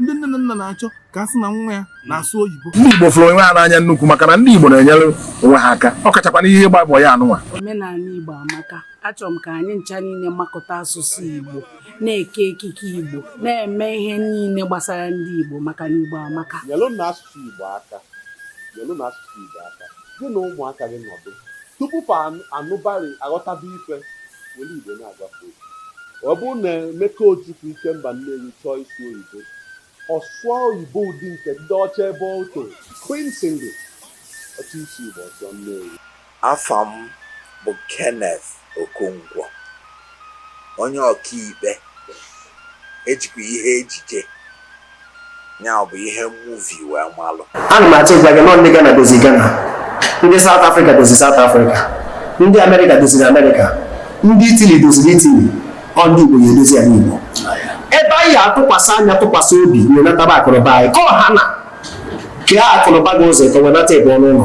ndị nne na nna na-achọ ka a sị na nwa ya na-asụ oyibo ndị Igbo fụrụ onwe ha n'anya nnukwu maka na ndị Igbo na-enyere onwe ha aka ọ kachakwa n'ihe ịgba bọị anụnwa omenala Igbo amaka achọrọ m ka anyị ncha niile makọta asụsụ Igbo na-eke ekike Igbo na-eme ihe niile gbasara ndị Igbo maka na Igbo amaka nyelụnụ asụsụ Igbo aka Gị na ụmụaka gị nọdụ, tupu fa anụbarị aghọtaba ife, were Igbo na-agwa fa okwu. Ọ bụrụ na Emeka Ojukwu Ikemba Nnewi chọọ ịsụ oyibo, ọ sụọ oyibo ụdị nke ndị ọcha ebe ọ toro. Queen's English, Ọ chọọ ịsụ Igbo, ọ sụọ Nnewi. Afa m bụ Kenneth Okonkwo. onye ọkaikpe ejikwa ihe ejije ya bụ ihe muvi wee malụ ana m achọ ịgwa gị na ọ ndị Ghana dozi Ghana ndị South Africa dozi South Africa ndị America doziri America ndị Italy doziri Italy ọ ndị Igbo ga-edozi ana Igbo ebe anyị atụkwasị anya tụkwasị obi wenataba akụnụba anyị ka ọha na kee akụnụba gị ụzọ ka wenata ebe ọnụ ụlọ